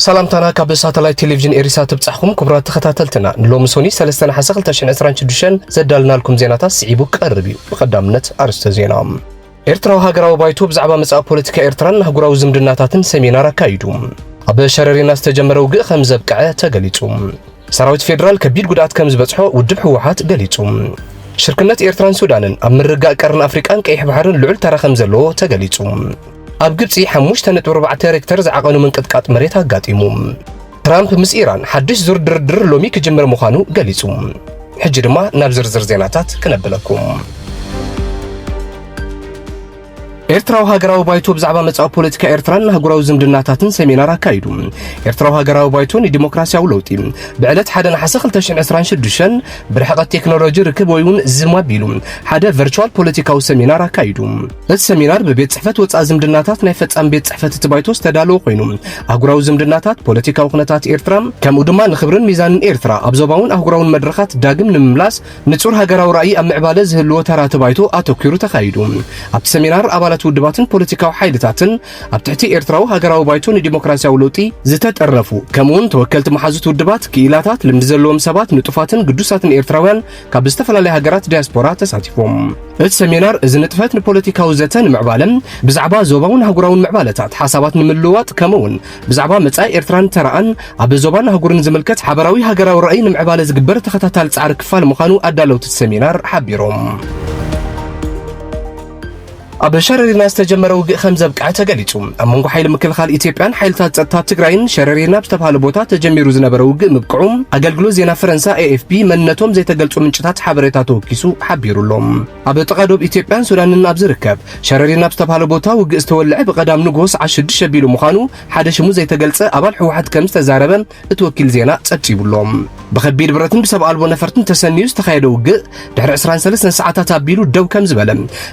ሰላምታና ካብ ሳተላይት ቴሌቪዥን ኤሪሳ ትብጻሕኩም ክቡራት ተኸታተልትና ንሎሚ ሶኒ 3 ነሓሰ 2026 ዘዳልናልኩም ዜናታት ስዒቡ ቀርብ እዩ ብቐዳምነት ኣርስተ ዜና ኤርትራዊ ሃገራዊ ባይቶ ብዛዕባ መጻኢ ፖለቲካ ኤርትራን ኣህጉራዊ ዝምድናታትን ሰሚናር ኣካይዱ። ኣብ ሸረሪና ዝተጀመረ ውግእ ከም ዘብቅዐ ተገሊጹ። ሰራዊት ፌዴራል ከቢድ ጉድኣት ከም ዝበጽሖ ውድብ ህወሓት ገሊጹ። ሽርክነት ኤርትራን ሱዳንን ኣብ ምርጋእ ቀርኒ ኣፍሪቃን ቀይሕ ባሕርን ልዑል ተራ ከም ዘለዎ ተገሊጹ። ኣብ ግብጺ 5.4 ሬክተር ዝዓቐኑ ምንቅጥቃጥ መሬት ኣጋጢሙ። ትራምፕ ምስ ኢራን ሓድሽ ዙር ድርድር ሎሚ ክጅምር ምዃኑ ገሊጹ። ሕጂ ድማ ናብ ዝርዝር ዜናታት ክነብለኩም። ኤርትራዊ ሃገራዊ ባይቶ ብዛዕባ መጻኢ ፖለቲካ ኤርትራን ኣህጉራዊ ዝምድናታትን ሰሚናር ኣካይዱ ኤርትራዊ ሃገራዊ ባይቶ ንዲሞክራሲያዊ ለውጢ ብዕለት ሓደ ነሓሰ 226 ብርሕቐት ቴክኖሎጂ ርክብ ወይ እውን ዝም ኣቢሉ ሓደ ቨርቹዋል ፖለቲካዊ ሰሚናር ኣካይዱ እዚ ሰሚናር ብቤት ጽሕፈት ወጻኢ ዝምድናታት ናይ ፈጻሚ ቤት ጽሕፈት እቲ ባይቶ ዝተዳለወ ኮይኑ ኣህጉራዊ ዝምድናታት፣ ፖለቲካዊ ኩነታት ኤርትራ ከምኡ ድማ ንክብርን ሚዛንን ኤርትራ ኣብ ዞባውን ኣህጉራውን መድረኻት ዳግም ንምምላስ ንጹር ሃገራዊ ራእይ ኣብ ምዕባለ ዝህልዎ ተራ እቲ ባይቶ ኣተኲሩ ተኻይዱ። ኣብቲ ሰሚናር ኣባላት ውድባትን ፖለቲካዊ ሓይልታትን ኣብ ትሕቲ ኤርትራዊ ሃገራዊ ባይቶ ንዲሞክራስያዊ ለውጢ ዝተጠርነፉ ከምኡ'ውን ተወከልቲ መሓዙት ውድባት፣ ክኢላታት፣ ልምዲ ዘለዎም ሰባት፣ ንጡፋትን ግዱሳትን ኤርትራውያን፣ ካብ ዝተፈላለያ ሃገራት ዲያስፖራ ተሳቲፎም። እቲ ሰሚናር እዚ ንጥፈት ንፖለቲካዊ ዘተ ንምዕባለ ብዛዕባ ዞባውን ኣህጉራውን ምዕባለታት ሓሳባት ንምልውዋጥ ከምኡውን ብዛዕባ መጻኢ ኤርትራን ተራኣን ኣብ ዞባን ኣህጉርን ዝምልከት ሓበራዊ ሃገራዊ ራእይ ንምዕባለ ዝግበር ተኸታታሊ ጻዕሪ ክፋል ምዃኑ ኣዳለውቲ እቲ ሰሚናር ሓቢሮም። ኣብ ሸረሪና ዝተጀመረ ውግእ ከም ዘብቅዐ ተገሊጹ። ኣብ መንጎ ሓይሊ ምክልኻል ኢትዮጵያን ሓይልታት ጸጥታ ትግራይን ሸረሪና ኣብ ዝተብሃለ ቦታ ተጀሚሩ ዝነበረ ውግእ ምብቅዑ ኣገልግሎት ዜና ፈረንሳ ኤኤፍፒ መንነቶም ዘይተገልጹ ምንጭታት ሓበሬታ ተወኪሱ ሓቢሩ ኣሎ። ኣብ ጥቓ ዶብ ኢትዮጵያን ሱዳንን ኣብ ዝርከብ ሸረሪና ኣብ ዝተብሃለ ቦታ ውግእ ዝተወልዐ ብቐዳም ንግሆ ሰዓት ሽዱሽተ ኣቢሉ ምዃኑ ሓደ ሽሙ ዘይተገልጸ ኣባል ህወሓት ከም ዝተዛረበ እቲ ወኪል ዜና ጸብጺቡ'ሎ። ብኸቢድ ብረትን ብሰብ ኣልቦ ነፈርትን ተሰንዩ ዝተኻየደ ውግእ ድሕሪ ዕስራን ሰለስተን ሰዓታት ኣቢሉ ደው ከም ዝበለ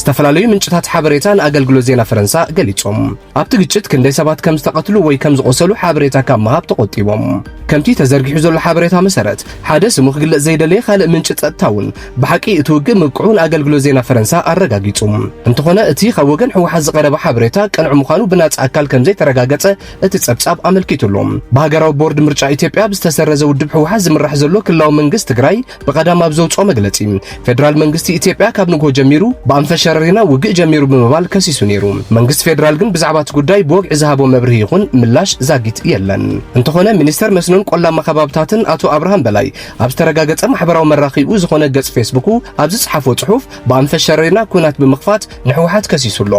ዝተፈላለዩ ምንጭታት ሓበሬታ ንኣገልግሎት ዜና ፈረንሳ ገሊጾም። ኣብቲ ግጭት ክንደይ ሰባት ከም ዝተቐትሉ ወይ ከም ዝቖሰሉ ሓበሬታ ካብ ምሃብ ተቖጢቦም። ከምቲ ተዘርጊሑ ዘሎ ሓበሬታ መሰረት፣ ሓደ ስሙ ክግለጽ ዘይደለየ ካልእ ምንጪ ጸጥታ'ውን ብሓቂ እቲ ውግእ ምብቅዑ ንኣገልግሎት ዜና ፈረንሳ ኣረጋጊጹ። እንተኾነ እቲ ካብ ወገን ህወሓት ዝቐረበ ሓበሬታ ቅኑዕ ምዃኑ ብናጻ ኣካል ከም ዘይተረጋገጸ እቲ ጸብጻብ ኣመልኪቱሉ። ብሃገራዊ ቦርድ ምርጫ ኢትዮጵያ ብዝተሰረዘ ውድብ ህወሓት ዝምራሕ ዘሎ ክልላዊ መንግስት ትግራይ ብቐዳም ኣብ ዘውጽኦ መግለጺ ፌደራል መንግስቲ ኢትዮጵያ ካብ ንግሆ ጀሚሩ ብኣንፈት ሸረሪና ውግእ ጀሚሩ ብምባል ከሲሱ ነይሩ። መንግስቲ ፌደራል ግን ብዛዕባ እቲ ጉዳይ ብወግዒ ዝሃቦ መብርሂ ይኹን ምላሽ ዛጊት የለን። እንተኾነ ሚኒስተር መስኖን ቆላማ ከባብታትን ኣቶ ኣብርሃም በላይ ኣብ ዝተረጋገጸ ማሕበራዊ መራኺኡ ዝኾነ ገጽ ፌስቡኩ ኣብ ዝጸሓፎ ጽሑፍ ብኣንፈት ሸረሪና ኲናት ብምኽፋት ንሕወሓት ከሲሱ ኣሎ።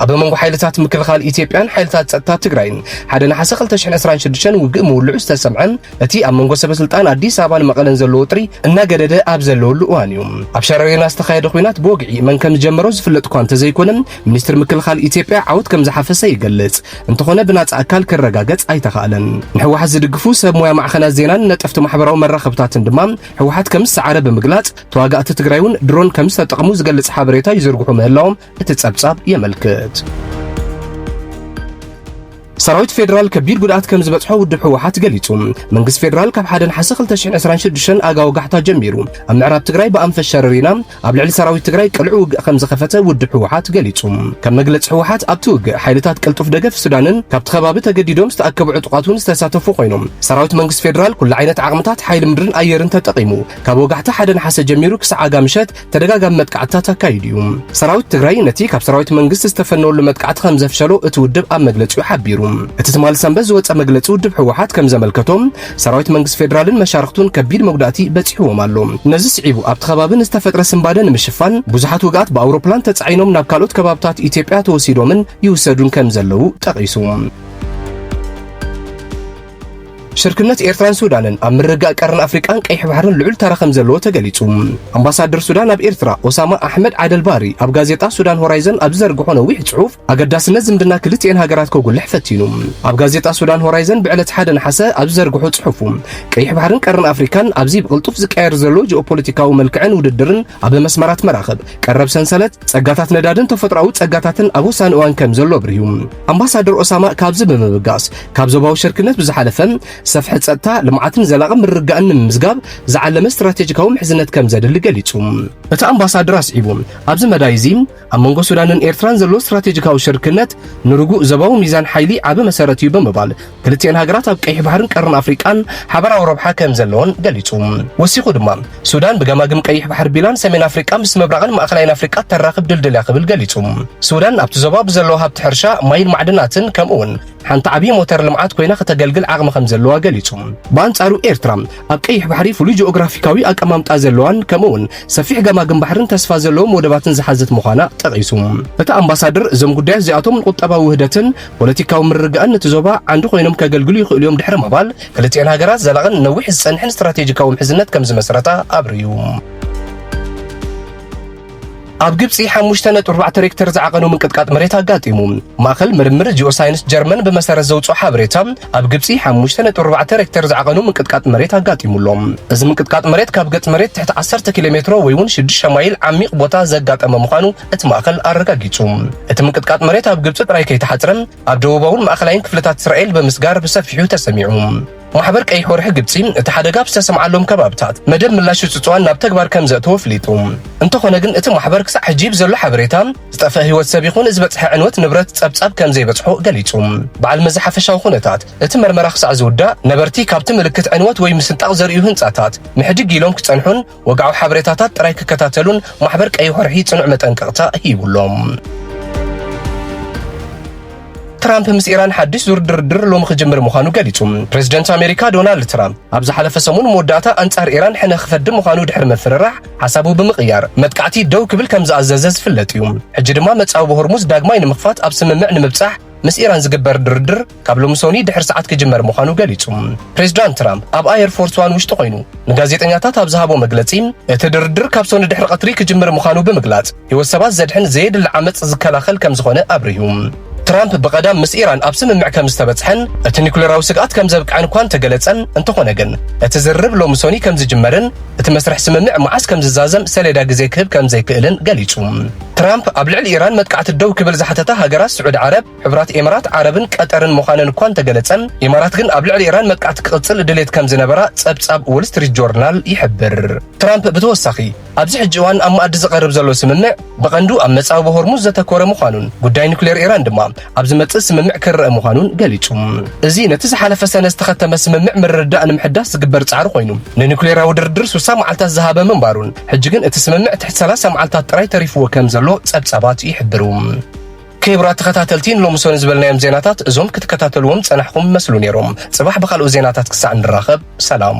ኣብ መንጎ ሓይልታት ምክልኻል ኢትዮጵያን ሓይልታት ጸጥታ ትግራይን ሓደ ነሓሰ 2026 ውግእ ምውልዑ ዝተሰምዐ እቲ ኣብ መንጎ ሰበስልጣን ኣዲስ ኣበባን መቐለን ዘሎ ወጥሪ እናገደደ ኣብ ዘለወሉ እዋን እዩ። ኣብ ሸረሪና ዝተኻየደ ኩናት ብወግዒ መን ከም ዝጀመሮ ዝፍለጥ እኳ እንተዘይኮነ ሚኒስትሪ ምክልኻል ኢትዮጵያ ዓወት ከም ዝሓፈሰ ይገልጽ፣ እንተኾነ ብናጻ ኣካል ክረጋገጽ ኣይተኻእለን። ንሕወሓት ዝድግፉ ሰብ ሞያ ማዕኸናት ዜናን ነጠፍቲ ማሕበራዊ መራኸብታትን ድማ ሕወሓት ከም ዝሰዓረ ብምግላጽ ተዋጋእቲ ትግራይ'ውን ድሮን ከም ዝተጠቕሙ ዝገልጽ ሓበሬታ ይዝርግሑ ምህላዎም እቲ ጸብጻብ የመልክት። ሰራዊት ፌደራል ከቢድ ጉድኣት ከም ዝበጽሖ ውድብ ህወሓት ገሊጹ። መንግስቲ ፌደራል ካብ ሓደ ነሓሰ 2026 ኣጋ ወጋሕታ ጀሚሩ ኣብ ምዕራብ ትግራይ ብኣንፈት ሸረሪና ኣብ ልዕሊ ሰራዊት ትግራይ ቅልዑ ውግእ ከም ዝኸፈተ ውድብ ህወሓት ገሊጹ። ከም መግለጺ ህወሓት ኣብቲ ውግእ ሓይልታት ቅልጡፍ ደገፍ ሱዳንን ካብቲ ከባቢ ተገዲዶም ዝተኣከቡ ዕጡቓት እውን ዝተሳተፉ ኮይኖም ሰራዊት መንግስቲ ፌደራል ኩሉ ዓይነት ዓቕምታት ሓይሊ ምድርን ኣየርን ተጠቒሙ ካብ ወጋሕታ ሓደ ነሓሰ ጀሚሩ ክሳዕ ኣጋ ምሸት ተደጋጋሚ መጥቃዕትታት ኣካይዱ እዩ። ሰራዊት ትግራይ ነቲ ካብ ሰራዊት መንግስቲ ዝተፈነወሉ መጥቃዕቲ ከም ዘፍሸሎ እቲ ውድብ ኣብ መግለጺኡ ሓቢሩ። እቲ ትማሊ ሰንበት ዝወጸ መግለጺ ውድብ ህወሓት ከም ዘመልከቶ ሰራዊት መንግስቲ ፌደራልን መሻርኽቱን ከቢድ መጉዳእቲ በጺሕዎም ኣሎ። ነዚ ስዒቡ ኣብቲ ከባቢ ንዝተፈጥረ ስንባደ ንምሽፋን ብዙሓት ውግኣት ብኣውሮፕላን ተጻዒኖም ናብ ካልኦት ከባብታት ኢትዮጵያ ተወሲዶምን ይውሰዱን ከም ዘለዉ ጠቒሱ። ሽርክነት ኤርትራን ሱዳንን ኣብ ምርግጋእ ቀርኒ ኣፍሪቃን ቀይሕ ባሕርን ልዑል ተራ ከም ዘለዎ ተገሊጹ። ኣምባሳደር ሱዳን ኣብ ኤርትራ ኦሳማ ኣሕመድ ዓደልባሪ ኣብ ጋዜጣ ሱዳን ሆራይዘን ኣብ ዝዘርግሖ ነዊሕ ጽሑፍ ኣገዳስነት ዝምድና ክልቲኤን ሃገራት ከጉልሕ ፈቲኑ። ኣብ ጋዜጣ ሱዳን ሆራይዘን ብዕለት ሓደ ነሓሰ ኣብ ዝዘርግሖ ጽሑፉ ቀይሕ ባሕርን ቀርኒ ኣፍሪካን ኣብዚ ብቕልጡፍ ዝቀየር ዘሎ ጂኦፖለቲካዊ መልክዕን ውድድርን ኣብ መስመራት መራኽብ ቀረብ ሰንሰለት ጸጋታት ነዳድን ተፈጥሮኣዊ ጸጋታትን ኣብ ወሳኒ እዋን ከም ዘሎ ኣብርሁ ኣምባሳደር ኦሳማ ካብዚ ብምብጋስ ካብ ዞባዊ ሸርክነት ብዝሓለፈ ሰፍሐ ጸጥታ ልምዓትን ዘላቒ ምርግጋእን ንምምዝጋብ ዝዓለመ ስትራቴጂካዊ ምሕዝነት ከም ዘድሊ ገሊጹ። እቲ ኣምባሳደር ኣስዒቡ ኣብዚ መዳይ እዚ ኣብ መንጎ ሱዳንን ኤርትራን ዘሎ ስትራቴጂካዊ ሽርክነት ንርጉእ ዞባዊ ሚዛን ሓይሊ ዓቢ መሰረት እዩ ብምባል ክልቲኤን ሃገራት ኣብ ቀይሕ ባሕርን ቀርኒ ኣፍሪቃን ሓበራዊ ረብሓ ከም ዘለወን ገሊጹ። ወሲኹ ድማ፣ ሱዳን ብገማግም ቀይሕ ባሕሪ ቢላን ሰሜን ኣፍሪቃ ምስ ምብራቕን ማእከላይን ኣፍሪቃ እተራኽብ ድልድል እያ ክብል ገሊጹ። ሱዳን ኣብቲ ዞባ ብዘለዋ ሃብቲ ሕርሻ፣ ማይን ማዕድናትን ከምኡ'ውን ሓንቲ ዓብዪ ሞተር ልምዓት ኮይና ከተገልግል ዓቕሚ ከም ዘለዋ ገሊጹ። ብኣንጻሩ ኤርትራ ኣብ ቀይሕ ባሕሪ ፍሉይ ጂኦግራፊካዊ ኣቀማምጣ ዘለዋን ከምኡ'ውን ሰፊሕ ገማግም ባሕርን ተስፋ ዘለዎም ወደባትን ዝሓዘት ምዃና ጠቒሱ። እቲ ኣምባሳድር እዞም ጉዳያት እዚኣቶም ንቁጠባዊ ውህደትን ፖለቲካዊ ምርግጋእን ነቲ ዞባ ዓንዲ ኮይኖም ከገልግሉ ይኽእሉ'ዮም ድሕሪ ምባል፣ ክልቲኤን ሃገራት ዘላቕን ነዊሕ ዝጸንሕን ስትራቴጂካዊ ምሕዝነት ከም ዝመስረታ ኣብሪሁ። ኣብ ግብጺ ሓሙሽተ ነጥቢ ኣርባዕተ ሬክተር ዝዓቐኑ ምንቅጥቃጥ መሬት ኣጋጢሙ። ማእከል ምርምር ጂኦሳይንስ ጀርመን ብመሰረት ዘውጽኦ ሓበሬታ ኣብ ግብጺ ሓሙሽተ ነጥቢ ኣርባዕተ ሬክተር ዝዓቐኑ ምንቅጥቃጥ መሬት ኣጋጢሙ ኣሎ። እዚ ምንቅጥቃጥ መሬት ካብ ገጽ መሬት ትሕቲ ዓሰርተ ኪሎ ሜትሮ ወይ እውን ሽዱሽተ ማይል ዓሚቕ ቦታ ዘጋጠመ ምዃኑ እቲ ማእኸል ኣረጋጊጹ። እቲ ምንቅጥቃጥ መሬት ኣብ ግብጺ ጥራይ ከይተሓጽረ ኣብ ደቡባውን ማእኸላይን ክፍልታት እስራኤል ብምስጋር ብሰፊሑ ተሰሚዑ። ማሕበር ቀይሕ ወርሒ ግብጺ እቲ ሓደጋ ኣብ ዝተሰምዓሎም ከባብታት መደብ ምላሽ ጽጽዋን ናብ ተግባር ከም ዘእተወ ኣፍሊጡ። እንተኾነ ግን እቲ ማሕበር ክሳዕ ሕጂ ብዘሎ ሓበሬታ ዝጠፍአ ህይወት ሰብ ይኹን ዝበጽሐ ዕንወት ንብረት ጸብጻብ ከም ዘይበጽሖ ገሊጹ። በዓል መዚ ሓፈሻዊ ኩነታት እቲ መርመራ ክሳዕ ዝውዳእ ነበርቲ ካብቲ ምልክት ዕንወት ወይ ምስንጣቕ ዘርእዩ ህንጻታት ምሕድግ ኢሎም ክጸንሑን ወግዓዊ ሓበሬታታት ጥራይ ክከታተሉን ማሕበር ቀይሕ ወርሒ ጽኑዕ መጠንቀቕታ ሂቡሎም። ትራምፕ ምስ ኢራን ሓድሽ ዙር ድርድር ሎሚ ክጅምር ምዃኑ ገሊጹ። ፕሬዚደንት ኣሜሪካ ዶናልድ ትራምፕ ኣብ ዝሓለፈ ሰሙን መወዳእታ ኣንጻር ኢራን ሕነ ክፈዲ ምዃኑ ድሕሪ ምፍርራሕ ሓሳቡ ብምቕያር መጥቃዕቲ ደው ክብል ከም ዝኣዘዘ ዝፍለጥ እዩ። ሕጂ ድማ መጻብቦ ሆርሙዝ ዳግማይ ንምኽፋት ኣብ ስምምዕ ንምብጻሕ ምስ ኢራን ዝግበር ድርድር ካብ ሎሚ ሶኒ ድሕሪ ሰዓት ክጅመር ምዃኑ ገሊጹ። ፕሬዚዳንት ትራምፕ ኣብ ኣየር ፎርስ ዋን ውሽጢ ኮይኑ ንጋዜጠኛታት ኣብ ዝሃቦ መግለጺ እቲ ድርድር ካብ ሶኒ ድሕሪ ቀትሪ ክጅምር ምዃኑ ብምግላጽ ህይወት ሰባት ዘድሕን ዘየድሊ ዓመጽ ዝከላኸል ከም ዝኾነ ኣብሪሁ። ትራምፕ ብቐዳም ምስ ኢራን ኣብ ስምምዕ ከም ዝተበጽሐን እቲ ኒኩሌራዊ ስግኣት ከም ዘብቅዐን እኳ እንተገለጸን እንተኾነ ግን እቲ ዝርርብ ሎሚ ሶኒ ከም ዝጅመርን እቲ መስርሕ ስምምዕ መዓስ ከም ዝዛዘም ሰሌዳ ግዜ ክህብ ከም ዘይክእልን ገሊጹ። ትራምፕ ኣብ ልዕሊ ኢራን መጥቃዕቲ ደው ክብል ዝሓተታ ሃገራት ስዑዲ ዓረብ፣ ሕቡራት ኤማራት ዓረብን ቀጠርን ምዃነን እኳ እንተገለጸ፣ ኢማራት ግን ኣብ ልዕሊ ኢራን መጥቃዕቲ ክቕጽል ድሌት ከም ዝነበራ ጸብጻብ ዎል ስትሪት ጆርናል ይሕብር። ትራምፕ ብተወሳኺ፣ ኣብዚ ሕጂ እዋን ኣብ መኣዲ ዝቐርብ ዘሎ ስምምዕ ብቐንዱ ኣብ መጻብቦ ሆርሙዝ ዘተኮረ ምዃኑን ጉዳይ ኑክሌር ኢራን ድማ ኣብ ዝመጽእ ስምምዕ ክርኣ ምዃኑን ገሊጹ። እዚ ነቲ ዝሓለፈ ሰነ ዝተኸተመ ስምምዕ ምርድዳእ ንምሕዳስ ዝግበር ጻዕሪ ኮይኑ፣ ንኑክሌራዊ ድርድር ስሳ መዓልታት ዝሃበ ምንባሩን ሕጂ ግን እቲ ስምምዕ ትሕቲ ሰላሳ መዓልታት ጥራይ ተሪፍዎ ከም ዘሎ ጸብጻባት ይሕብሩ። ክብራት ተኸታተልቲ ንሎምሶኒ ዝበልናዮም ዜናታት እዞም ክትከታተልዎም ዝጸናሕኹም መስሉ ነይሮም። ጽባሕ ብኻልኦት ዜናታት ክሳዕ ንራኸብ ሰላም።